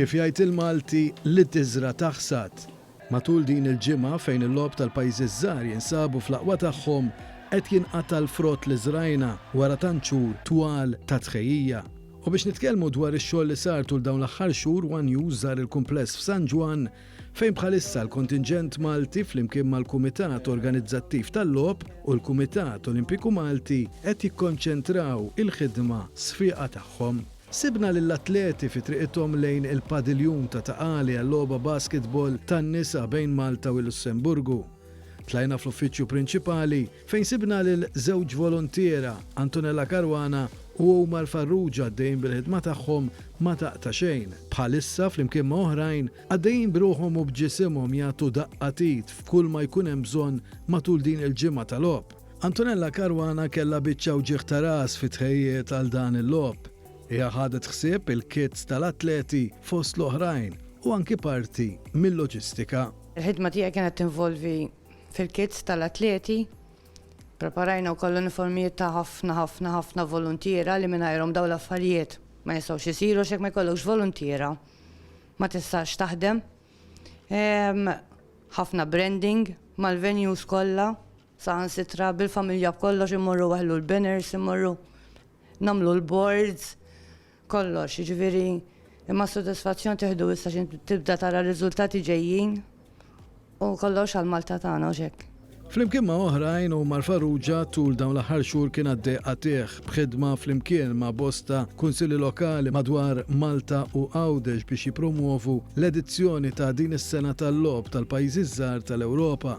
Kif jgħid il-Malti li tiżra taħsad. Matul din il-ġimgħa fejn il-lob tal-pajjiżi żgħar jinsabu fl-aqwa tagħhom qed jinqata' l-frott li żrajna wara tant xhur twal ta' tħejjija. U biex nitkellmu dwar ix-xogħol li sar tul dawn l-aħħar xhur, One News żar il-kumpless f'San Ġwann Fejn bħalissa l-kontinġent Malti flimkien mal-Kumitat Organizzattiv tal-Logħob u l-Kumitat Olimpiku Malti qed jikkonċentraw il-ħidma sfiqa tagħhom, sibna lill-atleti fi triqithom lejn il-padiljun ta' Ta' Qali għal-logħba basketball tan-nisa bejn Malta u l-Lussemburgu. Tlajna fl-uffiċċju prinċipali fejn sibna lil żewġ voluntiera, Antonella Caruana u Omar Farrugia għaddejjin bil-ħidma tagħhom ma taqta' xejn. Bħalissa, flimkien ma' oħrajn, għaddejjin b'ruħhom u b'ġisimhom jagħtu daqqa t'id f'kull ma jkun hemm bżonn matul din il-ġimgħa ta' logħob. Antonella Caruana kellha biċċa wġigħ ta' ras fit-tħejjijiet għal dan il-logħob. Hija ħadet ħsieb il-kits tal-atleti fost l-oħrajn u anki parti mil-loġistika. Il-ħidma tiegħi kienet tinvolvi Fil-kits tal-atleti, ppreparajna wkoll l-uniformijiet ta' ħafna, ħafna, ħafna voluntiera li mingħajrhom dawn l-affarijiet ma jistgħux isiru għax jekk ma jkollokx voluntiera ma tistax taħdem. Ħafna branding mal-venues kollha, saħansitra bil-familja b'kollox immorru waħlu l-banners, immorru nagħmlu l-boards, kollox, jiġifieri imma s-sodisfazzjon tieħdu issa xi tibda tara r-riżultati ġejjin u kollox għal Malta tagħna u x'hekk. Flimkien ma' oħrajn, Omar Farrugia tul dawn l-aħħar xhur kien għaddej qatigħ b'ħidma flimkien ma' bosta Kunsilli Lokali madwar Malta u Għawdex biex jippromwovu l-edizzjoni ta' din is-sena tal-Logħob tal-Pajjiżi ż-Żgħar tal-Ewropa.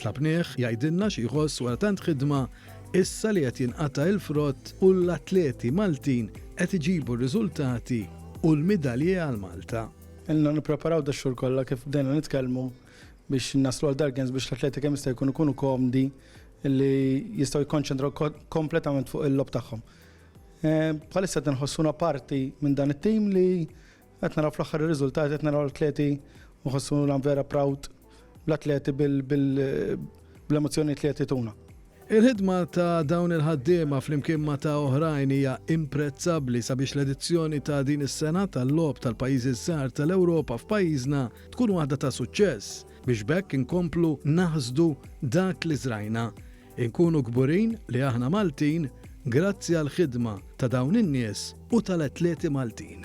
Tlabnieh jgħidilna xi jħoss wara tant ħidma Issa li qed jinqata' il-frott u l-atleti Maltin qed iġibu r-riżultati u l-midalji għal Malta. Ilna nippreparaw dax-xhur kollha kif bdejna nitkellmu biex naslu għal Dargens biex l-atleti kemm jista' jkun ikunu komdi li jistgħu jikkonċentraw kompletament fuq il-logħob tagħhom. Bħalissa qed inħossuna parti minn dan it-tim li Qed naraw fl-aħħar ir-riżultati, qed naraw l-atleti nħossu nagħmlu vera proud l-atleti bl-emozzjonijiet li qed jituna. Il-ħidma ta' dawn il-ħaddiema flimkien ma' ta' oħrajn hija imprezzabbli sabiex l-edizzjoni ta' din is-sena tal-Logħob tal-Pajjiżi Żgħar tal-Ewropa f'pajjiżna tkun waħda ta' suċċess biex b'hekk inkomplu naħsdu dak li żrajna. Inkunu kburin li aħna Maltin grazzi għall-ħidma ta' dawn in-nies u tal-atleti Maltin.